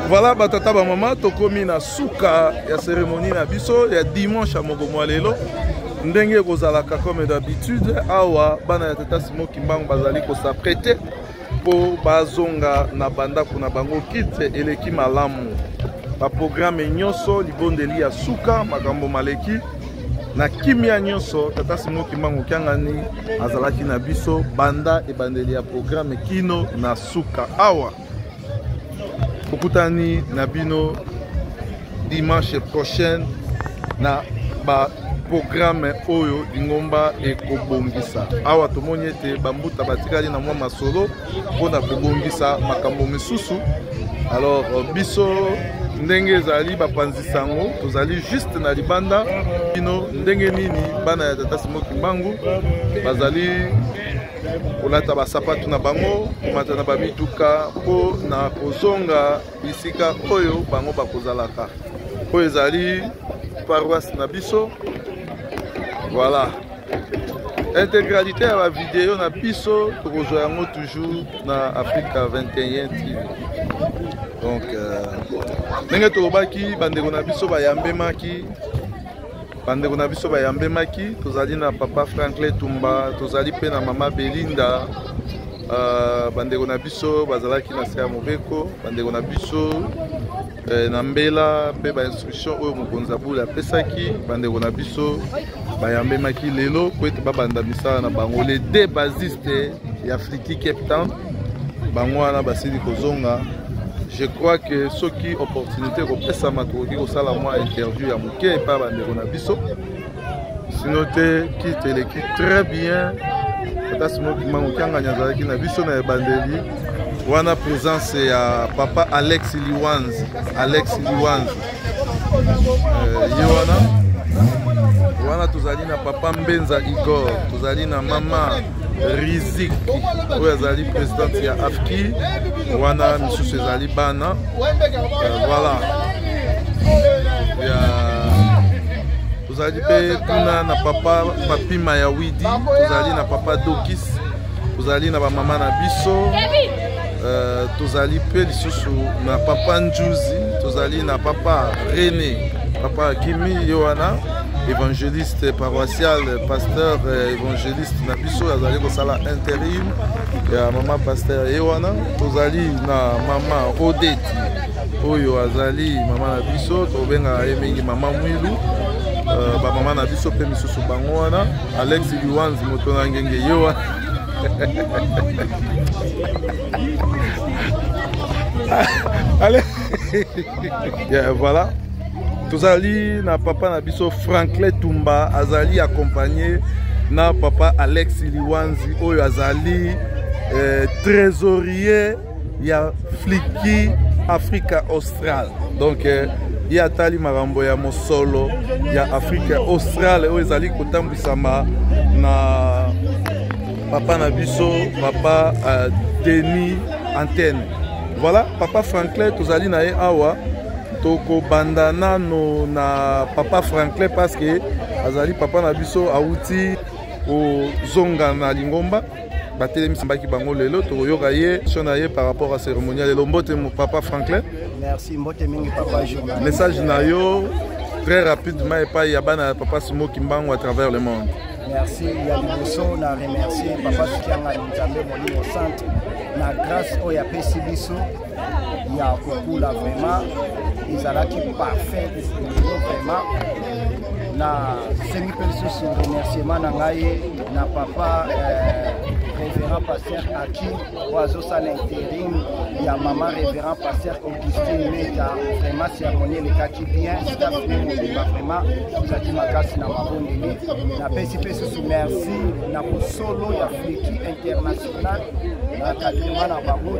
voilà batata bamama tokomi na suka ya cérémonie na biso ya dimanche ya moko mwa lelo ndenge ekozalaka comme d'habitude awa bana ya tata simo kimbangu bazali kosaprete mpo bazonga na bandako na bango kite eleki malamu baprograme nyonso libondeli ya suka makambo maleki na kimia nyonso tata simo kimbangu kiangani azalaki na biso banda ebandeli ya programe kino na suka awa tokutani na bino dimanche prochaine na ba programe oyo lingomba ekobongisa awa tomoni ete bambuta batikali na mwa masolo mpo na kobongisa makambo misusu alors euh, biso ndenge ezali bapanzi sango tozali juste na libanda bino ndenge nini bana ya tata simo kimbangu bazali kolata basapato na bango komata na bamituka mpo na kozonga bisika oyo bango bakozalaka oyo ezali paroisse na biso voilà intégralité ya bavideo na biso tokozwa yango toujours na afrika 21 tv donc euh, ndenge tolobaki bandeko na biso bayambemaki bandeko na biso bayambemaki tozali na papa franklin tumba tozali mpe na mama belinda uh, bandeko na biso bazalaki na se ya mobeko bandeko na biso eh, na mbela mpe bainstruction oyo mokonzi ya bule apesaki bandeko na biso bayambemaki lelo mpo ete babanda misala na bango le de basiste ya friki cape town bango wana basili kozonga je crois que soki opportunité ekopesama tokoki kosala mwa interview ya moke epai bandeko na biso sino te kite eleki très bien ata simokima mokiangani azalaki na biso na ebandeli wana présence ya papa alex liwanzi alex liwanzi euh, ye wana wana tozali na papa mbenza igor tozali na mama rizik oyo azali presidente ya afki wana misusu ezali bana euh, voilà tozali mpe kuna na papa papima ya widi tozali na papa dokis tozali na bamama na biso euh, tozali mpe lisusu na papa njuzi tozali na papa rene papa akimi ye wana évangéliste paroissial pasteur euh, évangéliste na biso azali kosala interim ya mama pasteur ye wana tozali na mama odeti oyo azali mama na biso tobengaka ye mingi mama mwilu euh, bamama na biso mpe misusu bango wana alex liwanzi moto na ngenge ye wana Allez. yeah, voilà. tozali na papa na biso franklin tumba azali accompagne na papa alex liwanzi oyo azali eh, trésorier ya fliki africa austral donc eh, ye atali makambo ya mosolo ya afrique australe oyo ezali kotambwisama na papa na biso papa uh, denis antenne voilà papa franklin tozali na ye awa tokobanda nano na papa franklin paske azali papa na biso awuti kozonga na lingomba batelemisambaki bango lelo tokoyoka ye sio na ye par rapport à cérémonial lelo mbote papa franklin merci mbote mingi papa journal message na yo très rapidement epai ya bana ya papa simo kimbangu à travers le monde merci ya liboso na remercie papa sokianga nzambe molimo sante na grâce oyo apesi biso ya kokula vraiment ezalaki parfait lelo vraiment na sengi mpe lisusu remerciement na ngai na papa eh, révérend pasteur aki oyo azosala interim ya mama révérend pasteur augustin meta vraiment cérémonie elekaki bien staff mpe mobimba vraiment ezalaki makasi na mabondeli napesi mpe susu merci na bosolo ya fliki international na kadrima na bango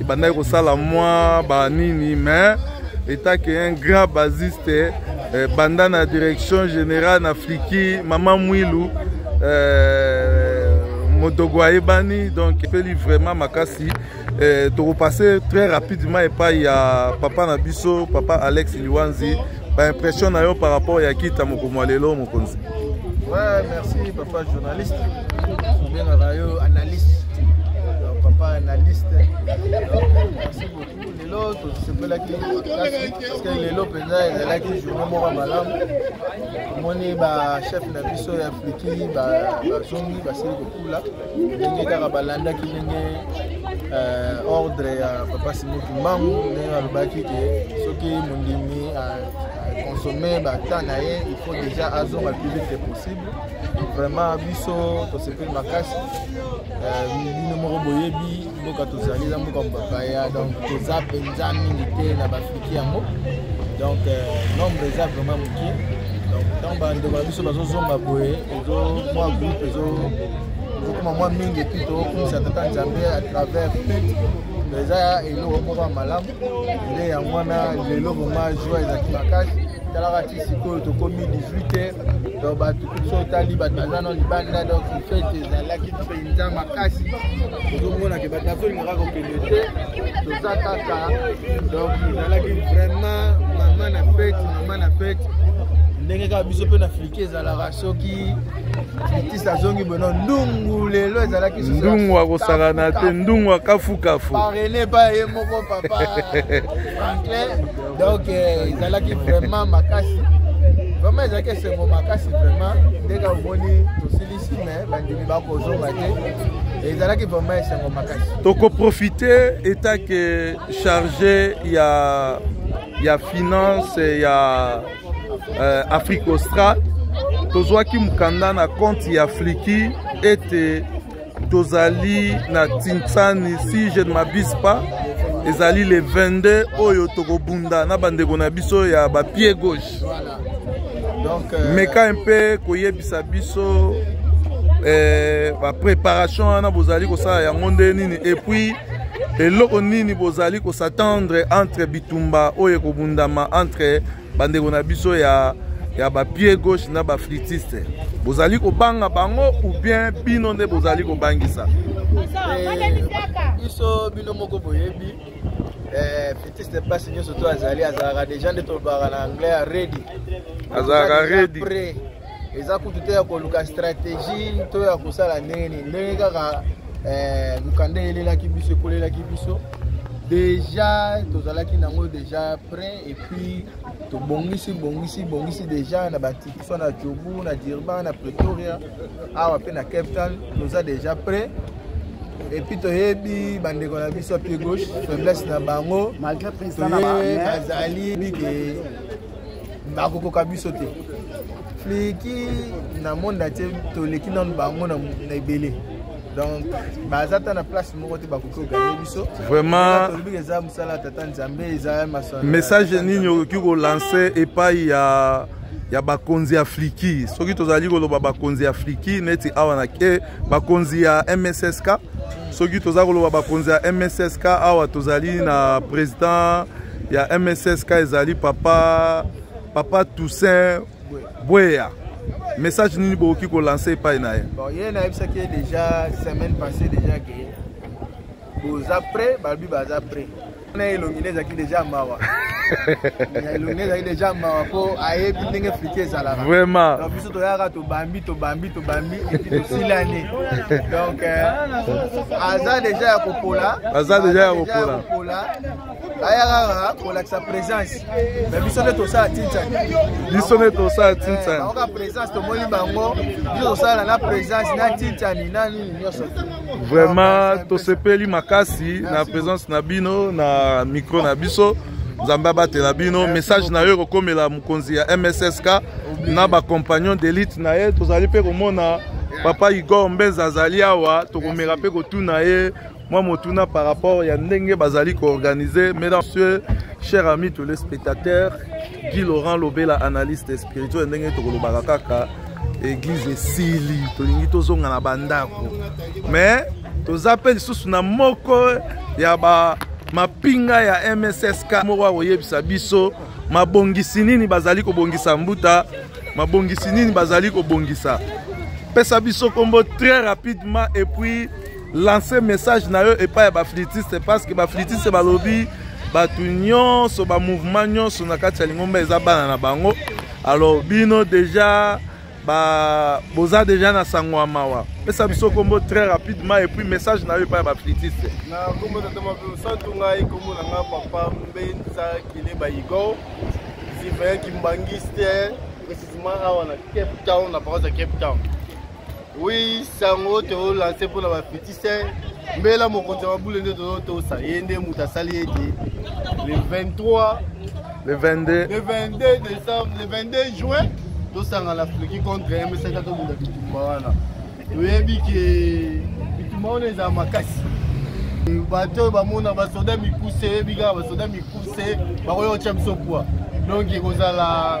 ebandaki kosala mwa banini mais etake un grand basiste eh, banda na direction générale na fliki mama mwilu eh, modogo ayebani donc epeli vraiment makasi eh, tokopase très rapidement epai ya papa na biso papa alex liwanzi Ba impression na yo par rapport ya kita mokomo lelo mokonzi. Ouais, merci papa journaliste. Obengaka yo analyste. Donc, papa analyste. Donc, merci beaucoup. Lelo tosepelaki parce que lelo mpenza ezalaki journée moko ya malamu. Omoni ba chef na biso ya Afriki bazongi basili kokula. ndenge kaka balandaki ndenge euh, ordre ya papa simoki mbangu ndenge alobaki ke soki mondimi aconsomme euh, euh, bata na ye il faut déjà azonga plus vite que possible vraiment biso tosepeli makasi bino moko boyebi mboka tozali eza mboka mobapaya donc toza mpenza mingi te na bafiki yango donc euh, nombre eza vraiment moke donc ntango bandeko na biso bazozonga boye ezo mwa groupe ezo ezokoma mwa mingi epuis tokumisa tata nzambe à travers eza eloko moko ya malamu nde yango wana lelo vraimen joie ezalaki makasi talaka ti sikoyo tokomi 18 heures donc bato kutu so otali bato baza na libanda donc fete ezalaki mpenza makasi tozomona ke bato bazolingaka kokende te toza kaka donc ezalaki vraiment mama na fete mama na fete ndenge kaka biso mpe na afrike ezalaka soki litisi azongi bono ndungu lelo ezalaki ndungu akosakana te ndungu akafukafu parene epai ye moko papa franklin donc eh, ezalaki vraiment makasi vraiment ezalaki esengo makasi vraiment ndenge omoni tosili mais bandimi bakozonga te ezalaki vraiment esengo makasi tokoprofite etake charge ya ya finance ya euh, afrique austral tozwaki mokanda na compte ya fliki ete tozali na tinsani si je ne m'abuse pas ezali le 22 oyo tokobunda na bandeko na biso ya bapied gauche Donc, euh... meka un peu koyebisa biso eh, ba préparation wana bozali kosala yango nde nini et puis eloko nini bozali kosatendre entre bitumba oyo ekobundama entre bandeko na biso ya ya bapie gauche na baflitiste bozali kobanga bango ou bien bino nde bozali kobangisa eh, biso bino moko boyebi Eh, fetiste mpasi nyonso to azali azalaka deja nde tolobaka na anglais ya redi azalaka redi eza kutu te ya koluka stratégie to ya kosala ndenge nini ndenge kaka eh, mokanda elelaki biso ekolelaki biso deja tozalaki nango deja prêt epuis tobongisi bongisi bongisi deja na batiki soit na jobu na dirba na pretoria awa mpe na cape town toza déjà prêt epuis toyebi bandeko na biso pied gauche faiblesse na bango toye bazali bike bakokoka biso te fliki na monde atie toleki nano bango na ebele donc baza ata na place moko te bakoki koganye biso vraimentolobi eza mosala ya tata nzambe eza message nini okoki kolanse epai ya ya bakonzi ya fliki soki tozali koloba bakonzi ya fliki neti awa na ke bakonzi ya mssk soki toza koloba bakonzi ya mssk awa tozali na président ya mssk ezali papa papa toussaint bweya message nini bokoki kolanse epai na ye bon, ye nayebisaki ye déjà semaine passée déjà ke boza prêt balobi baza prêt na elongi nde ezalaki deja mawa elongi ezalaki deja mawa mpo ayebi ndenge frite ezalaka vraiment donc biso toyaka tobambi tobambi tobambi epi tosilani donc euh, aza deja ya kopola aza deja ya kopola ayaka kolakisa présence me biso nde tosala tintan biso nde tosala tintan baoka présence tomoni bango biso tosala na présence na tintani na nini nyonso vraiment tosepeli makasi na présence na bino na micro na biso nzambe abatela bino message na yo ekokomela mokonzi ya mssk na bacompagnon d'élite na ye tozali mpe komona papa igor mbenza azali awa tokomeka mpe kotuna ye mwa motuna par rapport ya ndenge bazali koorganize mesdames messieurs cher ami tous les spectateurs guy laurent lobela analyste spirituel ndenge tokolobaka kaka eglize esili tolingi tozonga na bandako mais toza mpe lisusu na moko ya ba mapinga ya mssk moko akoyebisa biso mabongisi nini bazali kobongisa mbuta mabongisi nini bazali kobongisa pesa biso nkombo très rapidement et puis lance message na yo epai ya baflitiste parce que baflitiste balobi bato nyonso bamouvement nyonso na kati ya lingomba eza bana na bango alors bino deja ba boza deja na sango ya mawa pesa biso kombo très rapidement et puis message na yo epai ya baflitiste na kombo tata mapeosantu ngai kombo na ngai papa mbenza kileba igor sivaya kimbangiste précisément awa na cape town na paroisse ya cape town Oui, sango to lancer pour la petite mbela mokonzi ya mabule nde tozotosa ye nde moto asali ete le 23 le 22 le 22 décembre le 22 juin tosangana fleki contre msaka tobunda bitumba wana toyebi ke bitumba wana ezala makasi bato oyo bamona basoda mikuse oyebi kaka basoda mikuse bakoya kotya biso pwa donc ekozala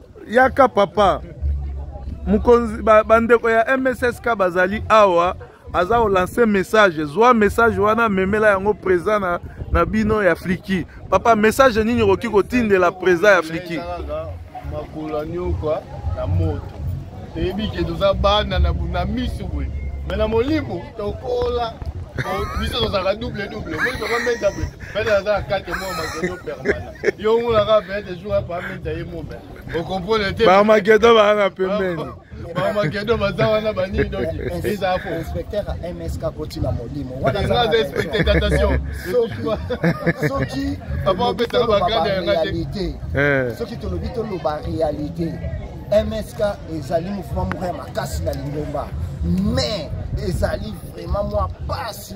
yaka papa mokonzi bandeko ba ya mssk bazali awa aza kolanse message zwa message wana memela yango président na, na bino ya fliki papa message nini okoki kotindela président ya fliki makolo nyoka na moto toyebi ke toza bana na miso boye me na molimo tokola biso tozalaka double double omoni papa mbenda boye pele aza na kate mwa makono permana bamakedo baa na pembeni bamakedo baza wana banini dokieza po inspecteur ya msk akoti na molimo soki réalité eh. soki tolobi toloba réalité msk ezali mouvement moko ya makasi na lingomba mais ezali vraiment mwa pasi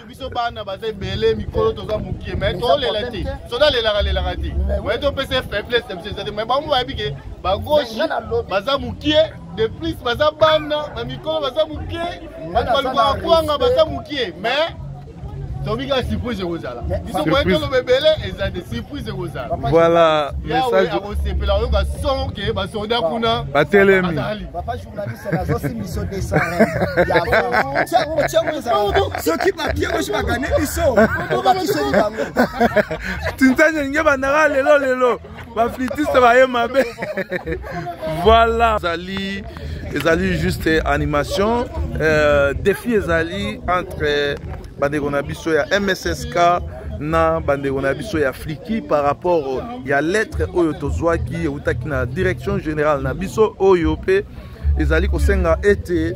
biso bana baza ebele mikolo toza mokie mai tolela te soda alelaka lelaka te mai topesa ye faiblesse ya biso eza te mai bango bayebi ke bagauche baza mokie de plus baza bana na mikolo baza mokie bato balukaka kwanga baza mokie mais tobi kaka surprise ekozala biso moye toloba ebele eza te surprise ekozala voilà message akosepela oyoka son ke basoda kuna batelemi soki bapie bosi bagane biso tinzani elingi bandaka lelo lelo baflitiste baye mabe voilà ezali ezali juste animation euh, défi ezali entre bandeko na biso ya mssk na bandeko na biso ya fliki par rapport ya lettre oyo tozwaki eutaki na direction générale na biso oyo mpe ezali kosenga ete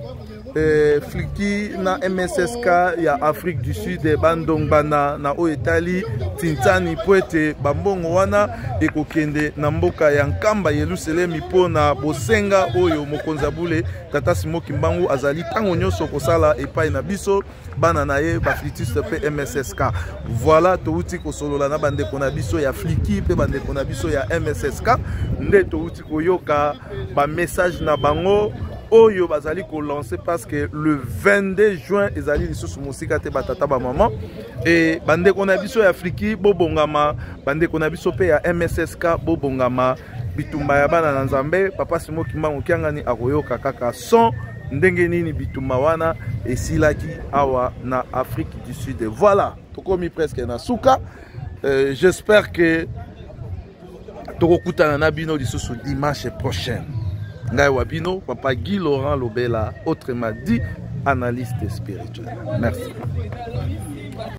eh, fliki na mssk ya afrique du sud eh, bandongbana na oyo etali tintani mpo ete bambongo wana ekokende na mboka ya nkamba yelusalemi mpo na bosenga oyo mokonzi ya bule tata simo kimbangu azali ntango nyonso kosala epai na biso bana na ye baflitiste mpe mssk voilà touti kosolola na bandeko na biso ya fliki mpe bandeko na biso ya mssk nde touti koyoka bamessage na bango oyo bazali kolancer parce que le 22 juin ezali lisusu mosika te batata bamama e bandeko na biso ya afriki bobongama bandeko na biso mpe ya mssk bobongama bitumba ya bana na nzambe papa simo kimbangu kiangani akoyoka kaka son ndenge nini bitumba wana esilaki awa na afrique du sud voilà tokomi presque na suka euh, j'espère que tokokutana na bino lisusu dimanche prochaine ngai wa bino papa guy laurent lobela autrement dit analyste spirituel merci